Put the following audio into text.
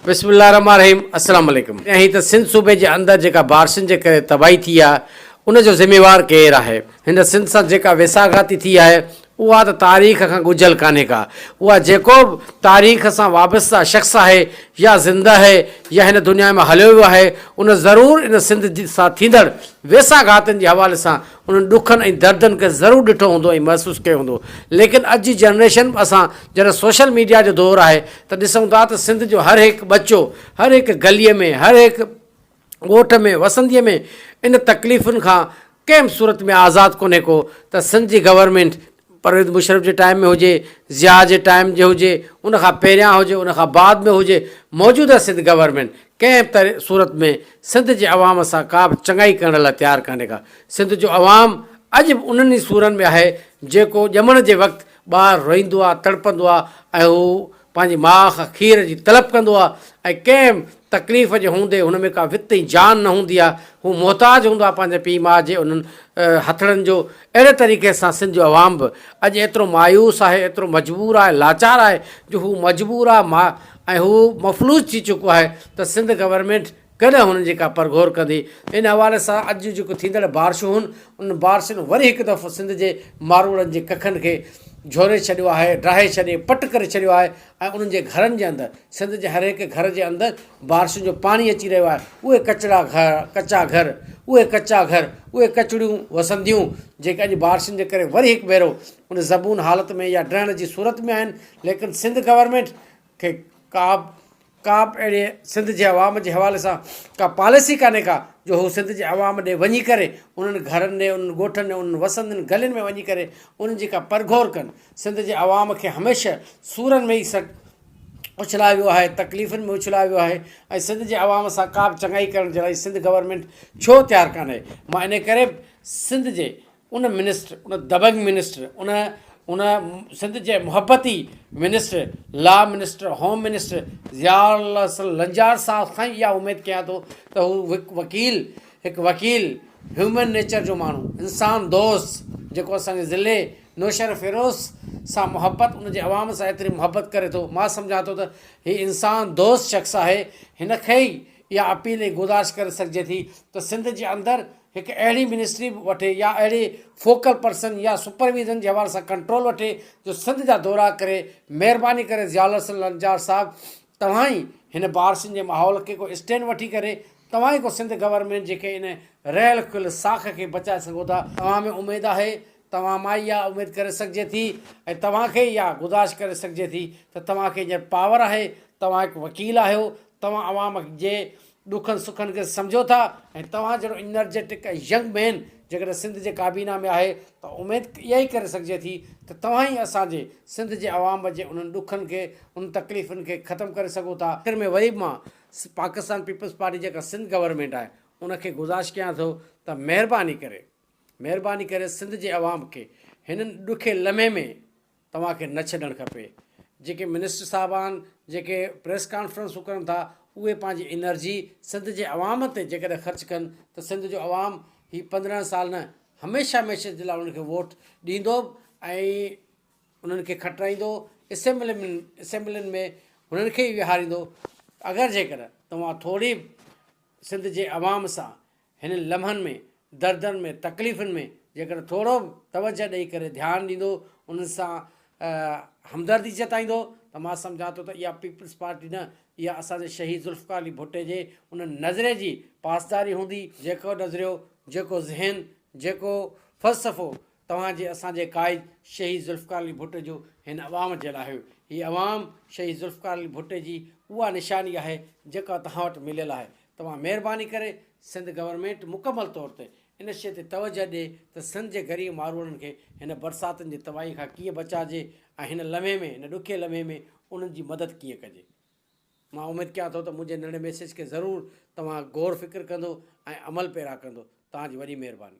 بسم الله الرحمٰن الرحيم السلام عليڪم ائين ته سنڌ صوبي جي اندر جيڪا بارشن جي ڪري تباهي ٿي آهي ان جو ذميوار ڪير آهي هن سنڌ سان جيڪا ويساهه گهاتي ٿي آهي اها ته تاريخ کان ڳجهيل ڪانهي ڪا اها جيڪو به تاريخ سان وابسته شخص آهي يا زنده آهي يا هن دنيا مان هليو ويو آهي ان ضرور ان سنڌ سان ٿيندڙ ويساهه گهاتن جي حوالي سان انهن ڏکن ۽ دردن کي ضرور ڏٺو هوندو ۽ محسوس ڪيو هوندو ليڪن اڄ جي جنريشن م اسان جڏهن سوشل ميڊيا جو دور آهي ته ڏسون ٿا ته سنڌ جو هر هڪ ٻچو هر هڪ گلي ۾ هر هڪ ڳوٺ ۾ وسندي ۾ ان تڪليفن کان ڪنهن به صورت ۾ آزاد ڪونهي ڪو ته سنڌ جي گورنمينٽ پرويز مشرف جي ٽائيم ۾ هجي، ضياء جي ٽائيم جي هجي، ان کان پهريان هجي، ان کان بعد ۾ هجي، موجوده سنڌ گورنمينٽ ڪنهن به صورت ۾ سنڌ جي عوام سان ڪا به چڱائي ڪرڻ لاء تيار ڪانهي ڪا. سنڌ جو عوام اڄ به انهن ئي سورن ۾ آهي جيڪو ڄمڻ جي وقت ٻار روئيندو آ، تڙپندو آ ۽ هو پنهنجي ماء کان کير جي طلب ڪندو آهي ۽ ڪنهن به تڪليف جي هوندي هن ۾ ڪا وت ۽ جان نه هوندي آهي، هو محتاج هوندو آهي پنهنجي پيء ماء جي انهن هٿڙن جو، اهڙي طريقي سان سنڌ جو عوام به اڄ ايترو مايوس آهي، ايترو مجبور آهي، لاچار آهي جو هو مجبور آهي ۽ هو مفلوج ٿي چڪو آهي ته سنڌ گورنمينٽ ڪڏهن هنن جي ڪا پرگهور ڪندي؟ ان حوالي سان اڄ جون جيڪو ٿيندڙ بارشون هن، انهن بارشن وري هڪ دفعو سنڌ جي ماروئڙن جي ڪکن کي جهوري ڇڏيو آهي، ڊاهي ڇڏي، پٽ ڪري ڇڏيو آهي ۽ انهن جي گهرن جي اندر، سنڌ جي هرهڪ گهر جي اندر بارشن جو پاڻي اچي رهيو آهي، اهي ڪچڙا گهر، ڪچا گهر، اهي ڪچا گهر، اهي ڪچڙيون وسنديون، جيڪي اڄ بارشن جي ڪري وري هڪ ڀيرو ان زبون حالت ۾ يا ڊهڻ جي صورت ۾ آهن، ليڪن سنڌ گورنمينٽ کي ڪابه ڪابه اهڙي سنڌ جي عوام جي حوالي سان ڪا پاليسي ڪانهي ڪا جو هو سنڌ جي عوام ڏي وڃي ڪري انهن گهرن ڏي انهن ڳوٺن ڏي انهن وسندين گلين ۾ وڃي ڪري انهن جي ڪا پرگهور ڪن سنڌ جي عوام کي هميشه سورن ۾ ئي سٽ اڇلايو ويو آهي تڪليفن ۾ اڇلايو ويو آهي ۽ سنڌ جي عوام سان ڪابه چڱائي ڪرڻ جي لاء سنڌ گورنمينٽ ڇو تيار ڪانهي معني ڪري سنڌ جي ان منسٽر، ان دبنگ منسٽر، ان ان سنڌ جي محبتي minister, law minister, home minister Zia ul Hassan Lanjar صاحب کان ئي اها اميد ڪيان ٿو ته هو هڪ وڪيل، هڪ وڪيل، هيومن نيچر جو ماڻهو، انسان دوست جيڪو اسان جي ضلعي نوشهر فيروز سان محبت ان جي عوام سان ايتري محبت ڪري ٿو، مان سمجهان ٿو ته هي انسان دوست شخص آهي، هن کي ئي اها اپيل ۽ گذارش ڪري سگهجي ٿي ته سنڌ جي اندر هڪ اهڙي منسٽري وٺي يا اهڙي فوڪل پرسن يا سپرويزن جي حوالي سان ڪنٽرول وٺي جو سنڌ جا دورا ڪري، مهرباني ڪري ضياء الحسن لنچار صاحب توهان ئي هن بارسين جي ماحول کي ڪو اسٽينڊ وٺي ڪري توهان ئي ڪو سنڌ گورنمينٽ جيڪي ان رهيل کل ساک کي بچائي سگهو ٿا، توهان ۾ اميد آهي، توهان مان ئي اها اميد ڪري سگهجي ٿي ۽ توهان کي ئي اها گذارش ڪري سگهجي ٿي ته توهان کي هينئر پاور آهي، توهان هڪ وڪيل آهيو، توهان عوام جي ڏکن سکن کي سمجهو ٿا ۽ توهان جهڙو انرجيٽڪ ۽ ينگ مين جيڪڏهن سنڌ جي ڪابينا ۾ آهي ته اميد اها ئي ڪري سگهجي ٿي ته توهان ئي اسان جي سنڌ جي عوام جي انهن ڏکن کي انهن تڪليفن کي ختم ڪري سگهو ٿا. آخر ۾ وري به مان پاڪستان پيپلز پارٽي جيڪا سنڌ گورنمينٽ آهي ان کي گذارش ڪيان ٿو ته مهرباني ڪري مهرباني ڪري سنڌ جي عوام کي هن ڏکي لمحي ۾ توهان کي نه ڇڏڻ کپي. جيڪي منسٽر صاحبان جيڪي پريس ڪانفرنسون ڪرن ٿا اهي پنهنجي انرجي سنڌ جي عوام تي جيڪڏهن خرچ ڪن ته سنڌ جو عوام هي پندرهن سال نه هميشه هميشه جي لاء انهن کي ووٽ ڏيندو به ۽ انهن کي کٽرائيندو اسيمبلين ۾ اسيمبلين ۾ هنن کي ئي ويهاريندو اگر جيڪڏهن توهان ٿوري به سنڌ جي عوام سان هنن لمحن ۾ دردن ۾ تڪليفن ۾ جيڪڏهن ٿورو به توجه ڏئي ڪري ڌيان ڏيندو انهن سان همدردي جتائيندو ته مان سمجهان ٿو ته اها پيپلز پارٽي نه اها اسان جي شهيد ذوالفقار علي ڀٽي جي ان نظرئي جي پاسداري هوندي جيڪو نظريو جيڪو ذهن جيڪو فلسفو توهان جي اسان جي قائد شهيد ذوالفقار علي ڀٽي جو هن عوام جي لاء هيو هي عوام شهيد ذوالفقار علي ڀٽي جي اها نشاني آهي جيڪا توهان وٽ مليل آهي توهان مهرباني ڪري سنڌ گورنمينٽ مڪمل طور تي ان شيء تي توجهه ڏي ته سنڌ جي غريب ماروئڙن کي هن برساتن جي تباهي کان ڪيئن بچائجي ۽ هن لمحي ۾ هن ڏکئي لمحي ۾ انهن جي مدد ڪيئن ڪجي. مان اميد ڪيان ٿو ته منهنجي ننڍي ميسيج کي ضرور توهان غور فڪر ڪندو ۽ عمل پيرا ڪندو. توهان جي وڏي مهرباني.